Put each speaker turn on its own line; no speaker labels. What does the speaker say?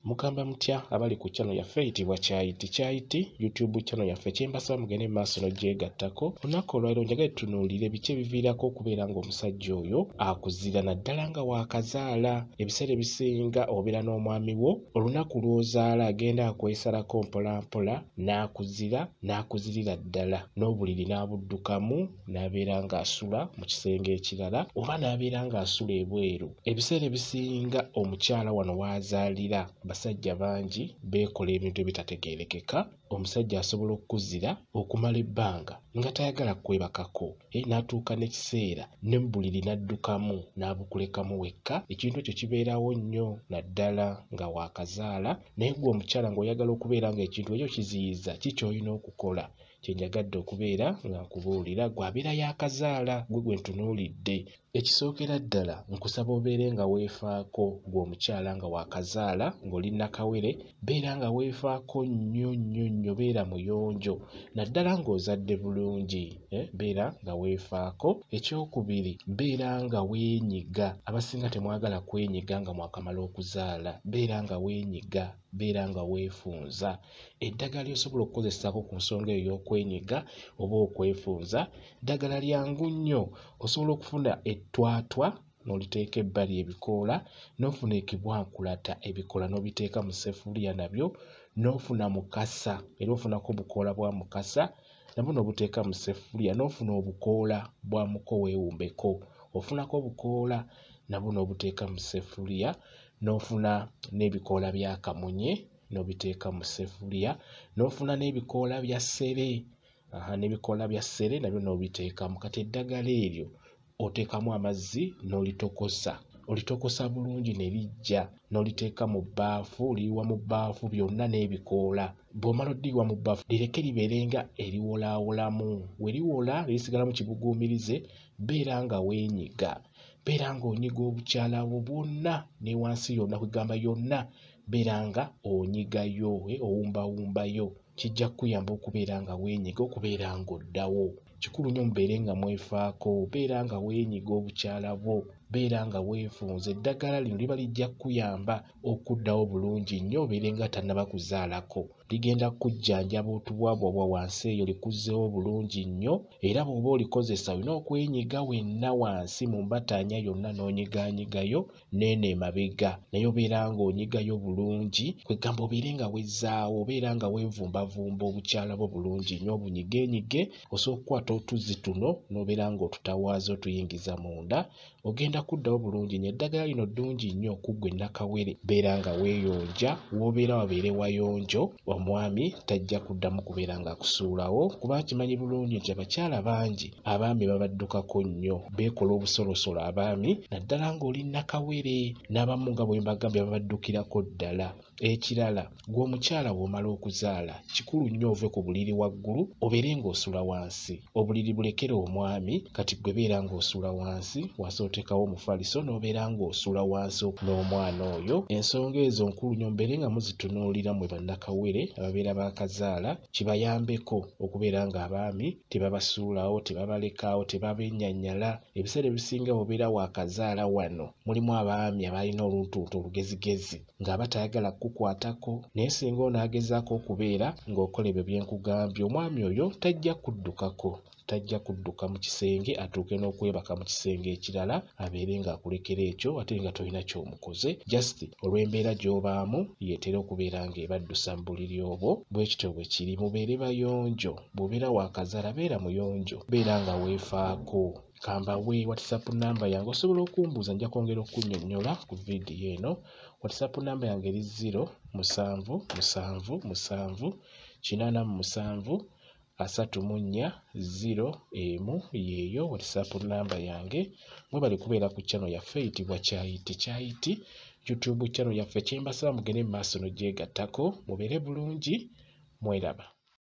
mugamba mutya abali ku channel yaffe eyitibwa kyayiti kyayiti youtube channel yaffe kyembasaba mugende mu maaso nogyegattako olunaku olwaliro njagale tunuulire biki ebiviirako okubeera ng'omusajja oyo akuzira naddala nga waakazaala ebiseera ebisinga obeera n'omwami wo olunaku lw'ozaala agenda akwesalako mpolampola n'akuzira n'akuzirira ddala n'obuliri n'abuddukamu n'abeera ng'asula mu kisenge ekirala oba n'abeera ng'asula ebweru ebiseera ebisinga omukyala wano w'azaalira basajja bangi beekola ebintu ebitategeerekeka omusajja asobola okukuzira okumala ebbanga nga tayagala kwebakako e n'atuuka n'ekiseera ne mu buliri n'addukamu n'abukulekamu wekka ekintu ekyo kibeerawo nnyo naddala nga waakazaala naye gwe omukyala ng'oyagala okubeera ng'ekintu ekyo kiziyiza ki ky'olina okukola kyenjagadde okubeera nga nkubuulira gwe abeera yakazaala gwe gwe ntunuulidde ekisookera ddala nkusaba obeere nga weefaako gwe omukyala nga wakazaala ng'oli nakawere beera nga weefaako nnyo nnyo nnyo beera muyonjo naddala ng'ozadde bulungi eh, beera nga weefaako ekyokubiri beera nga weenyiga abasinga temwagala kwenyiga nga mwakamala okuzaala beera nga weenyiga beera nga weefunza eddagala lyosobola okukozesaako ku nsonga eyo y'okwenyiga oba okwefunza ddagala lyangu nnyo osobola okufuna ettwatwa n'oliteeka ebbali ebikoola n'ofuna ekibwankulata ebikoola n'obiteeka mu sefuliya nabyo n'ofuna mukasa era ofunako obukoola bwa mukasa nabwo n'obuteeka mu sefuliya n'ofuna obukoola bwa muko weewumbeko ofunako obukoola nabwo n'obuteeka mu sefuliya n'ofuna n'ebikoola bya kamunye n'obiteeka mu sefuliya n'ofuna n'ebikoola bya ssere aha n'ebikoola bya ssere nabyo n'obiteekamu kati eddagala eryo oteekamu amazzi n'olitokosa olitokosa bulungi ne lijja n'oliteeka mu bbaafu liyiwa mu bbaafu byonna n'ebikoola bw'omala oddiyiwa mu bbaafu lireke libeere nga eriwolaawolamu we liwola lirisigala mu kibuguumirize beera nga weenyiga beera nga onyiga obukyala bwo bwonna ne wansi yonna kwegamba yonna beera nga onyigayo eh, owumbawumbayo kijja kukuyamba okubeera nga weenyiga okubeera nga oddawo kikulu nnyo mubeere nga mwefaako beera nga weenyiga obukyala bwo beera nga weefunza eddagala lino liba lijja kukuyamba okuddawo bulungi nnyo obeere nga tannaba kuzaalako ligenda kukujjanjaba otubwabwabwa wansi eyo likuzzewo bulungi nnyo era bw'oba olikozesa olina okwenyiga wenna wansi mu mbataanya yonna n'onyigaanyigayo neeno emabega naye obeera ng'onyigayo bulungi kwegamba obeere nga wezzaawo obeera nga weevumbavumba obukyala bwo bulungi nnyo obunyigeenyige osooka okukwata otuzzi tuno n'obeera ng'otutawaaza otuyingiza munda ogenda kuddawo bulungi nyo eddagala lino ddungi nnyo kuggwe nakawere beera nga weeyonja woobeera wabeere wayonjo omwami tajja kuddamu kubeera nga akusuulawo kuba akimanyi bulungi nti abakyala bangi abaami babaddukako nnyo beekola obusolosolo abaami naddala ng'oli nakawere n'abamu nga bwe mbagambye babaddukirako ddala Ekirala gwe omukyala bw'omala okuzaala kikulu nnyo ove ku buliri waggulu obeere ng'osula wansi. Obuliri bulekere omwami kati gwe beera ng'osula wansi wansi oteekawo omufaliso n'obeera ng'osula wansi n'omwana oyo. Ensonga ezo nkulu nnyo mubeere nga muzitunuulira mwe bannakawere ababeera baakazaala kibayambeko okubeera ng'abaami tebabasuulawo tebabalekaawo tebabennyanyala. Ebiseera ebisinga bw'obeera waakazaala wano mulimu abaami abalina oluntuntu olugezigezi. ng'aba tayagala kukukwatako naye singa onaagezaako okubeera ng'okola ebyo bye nkugambye omwami oyo tajja kuddukako tajja kudduka mu kisenge atuuke n'okwebaka mu kisenge ekirala abeere ng'akulekera ekyo ate nga tolina ky'omukoze just olw'embeera gy'obaamu yeetera okubeera ng'ebaddusa mu buliri obwo bwe kityo bwe kiri mubeere bayonjo bw'obeera waakazala beera muyonjo beera nga weefaako kambawe whatsapp namba yange osobola okumbuuza nja kwongera okunyonyola ku vidiyo eno whatsapp namba yange eri 0 musanvu musanvu musanvu kinaana mu musanvu asatu mu nnya ziro emu yeeyo whatsapp namba yange mwebali kubeera ku channel yaffe eyitibwa kyayiti kyayiti youtube channel yaffe kyembasaba mugende mu maaso nogyegattako mubeere bulungi mweraba